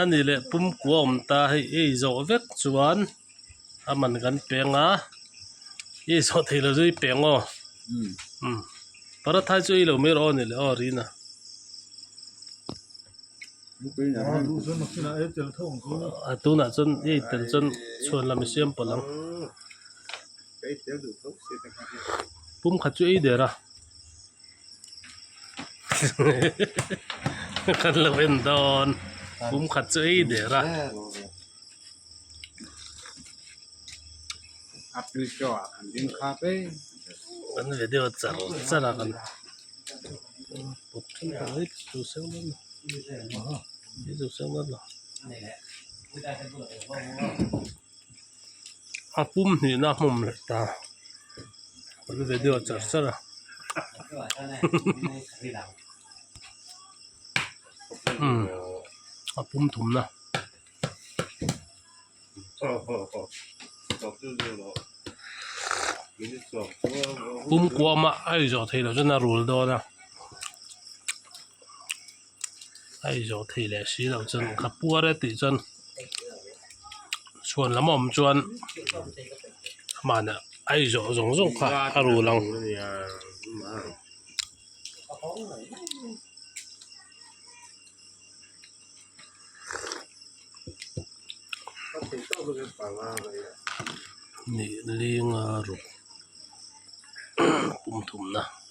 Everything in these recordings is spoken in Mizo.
A nih leh pumkua awm ta hei ei zawh vek chuan a man kan peng a ei zawh theih lo chu i peng aw paratha hi chu ei lo mai rawh a nih leh aw rina a tunah chuan ei tel chuan chhuan lam i siam pawlh ang pum khat chu ei der a. kan lo en dawn pum khat chu ei der a kan video char char a kan -- a pum hnihna a hmawm leh ta kan ri ve deuh a char char a umm a pum thumna. a izawh thei leh si lo chuan ka puar e tih chuan chhuan lam awm chuan mahni a izawh zawng zawng kha a ru lang nih linga ruk pum thumna.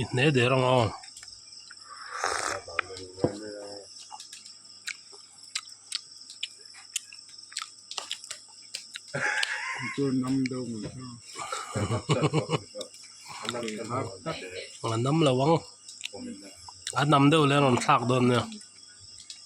i hneh der ang aw a nam lo ang a hnam deuh leh a rawn thlak dawn nia.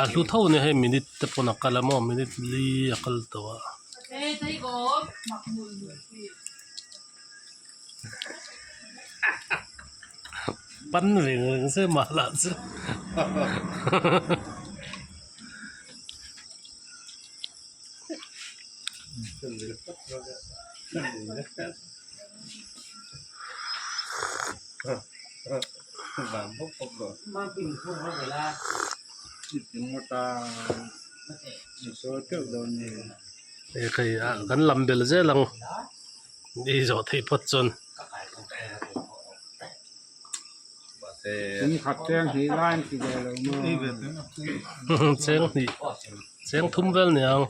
A hlu tho nia hei minute te pawn a kal a maw minute li a kal tawh a pan reng reng se mah lah chu hahahaha kan lam bel zel ang ni zawh thei phawt chuan cheng hnih cheng thum vel ni ang.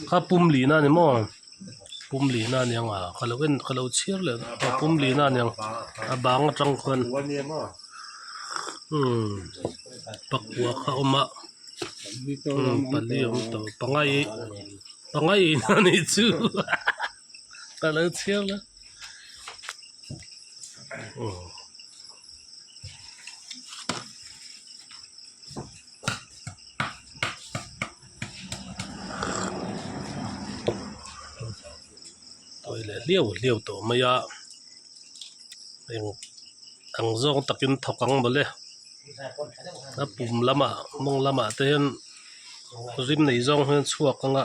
kha pum lihna a ni maw pum lihna a niang a ka lo en ka lo chhiar leh a pum lihna a niang a bang atang khan umm pakua kha awm a umm pali awm tawh pangai pangai ina a nih chu hahaha. ka lo thiang a oh toilet hliau hliau tawh mai a heng ang zawng takin thawk ang mawle a pum lamah mawng lamah te hian rim nei zawng hian chhuak ang a.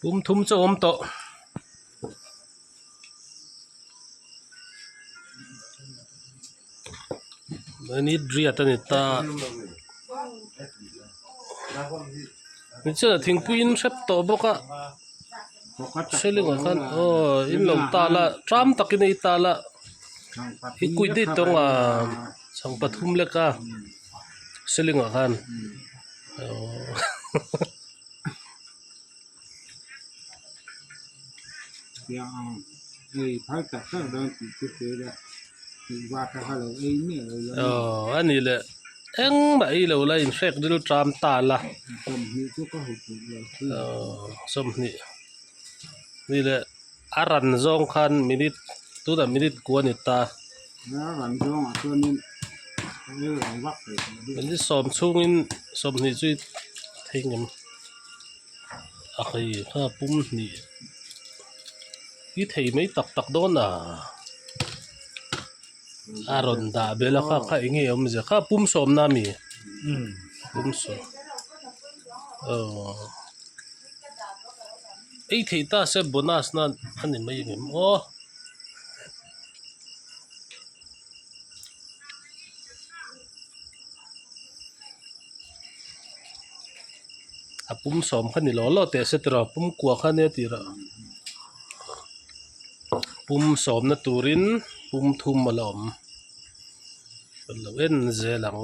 pum thum chu awm tawh i need riat a ni ta ni chuan ah thingpui in hrep tawh bawk a ceiling ah khan aw in lo tal a ṭam tak in a itâl a i kuih daih tawng ang chhang pathum leka. Silingah khan a ni leh engmah i lo la inhrek ril ṭam ta la sawmhnih ni leh. A ran zawng khan minute tunah minute kua ni ta. Min i sawm chhungin sawmhnih chu i thei ngam. A hei kha pum hnih i thei mai tak tak dawn a. a rawn dah bela kha kha eng nge awm zia kha pum sawmna a mi pum sawm aww ei thei ta se bonus na a ni mai em aw a pum sawm kha ni law law teh a se tura pum kua kha ania tih rah pum sawmna turin pum thum a la awm a lo en zel ang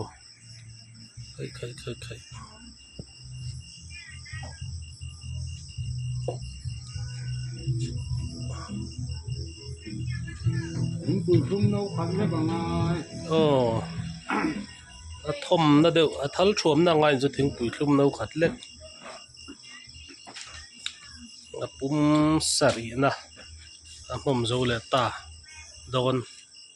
khaih khaih khaih khaih. a thawmna deuh a thal thuamna ang ain chu thingpui thlum no khat lek a pum sarihna a hnawm zo leh ta dawn.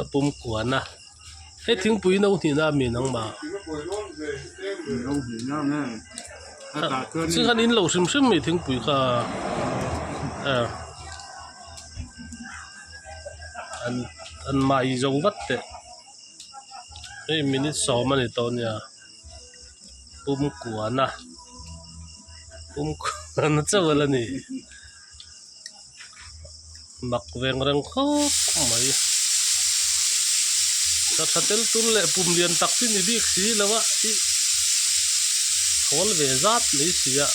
a pum kuan a he thingpui hi no hnihna a mi nang mah chiahan in lo hrim hrim mai thingpui kha an an mah zo vat teh hei minute sawm a ni tawh nia pum kuan a pum kuan a chauh alawni. mak veng reng khawp mai hla tha tel tul leh pum lian tak te ni bik si lo a tih khawl ve zat mai si a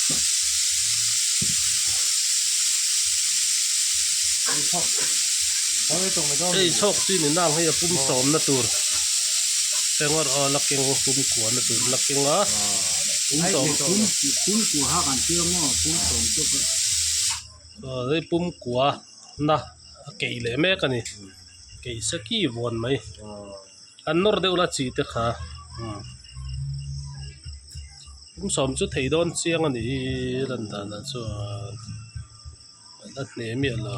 hei chhawk chu in inang hei a pum sawm na tur laking pum kuah na tur laking a pum sawm-- aw hei pumkua na a kei leh mek a ni kei se ki vawn mai an nawr deuh la chi te kha pum sawm chu thei dawn chiang a ni hi lan danah chuan a hne miah lo.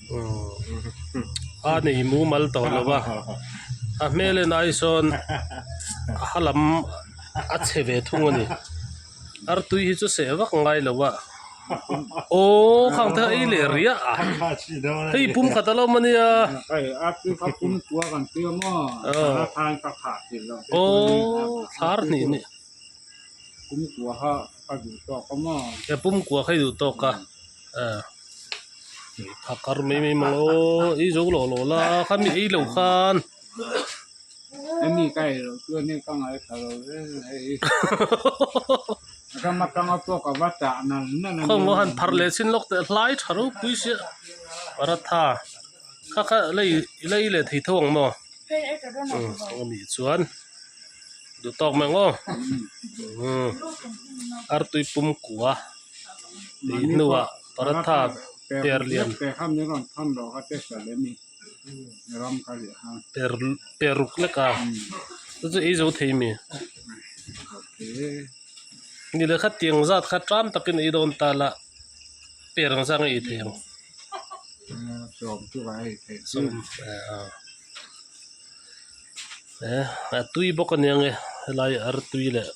a ni mumal tawh lo va a hmel en ai sawn a ha lam a chhe ve thung a ni artui hi chu seh vak ngai lo va aww khang te hi leh riah a hei pum khat a lo mania aww thar hnih hnih pum kuah kha i duh tawk a. ah a kar mai mai mawngh o ih zo lo lo la kha mi ei lo khan khaw maw han pharh leh chin lawk teh hlai tha reuh pui chiah paratha kha kha lei lei leh thei tho ang maw kawng anih chuan duh tawk mai ang aw artui pumkua. hnuah paratha per lian per per ruk lek a te chu eizo thei a mi ni le kha tiang zat kha tan takin ei dawn ta la per ang zang a ei thei ang a tui bawk a nia ang e helai a ar tui leh--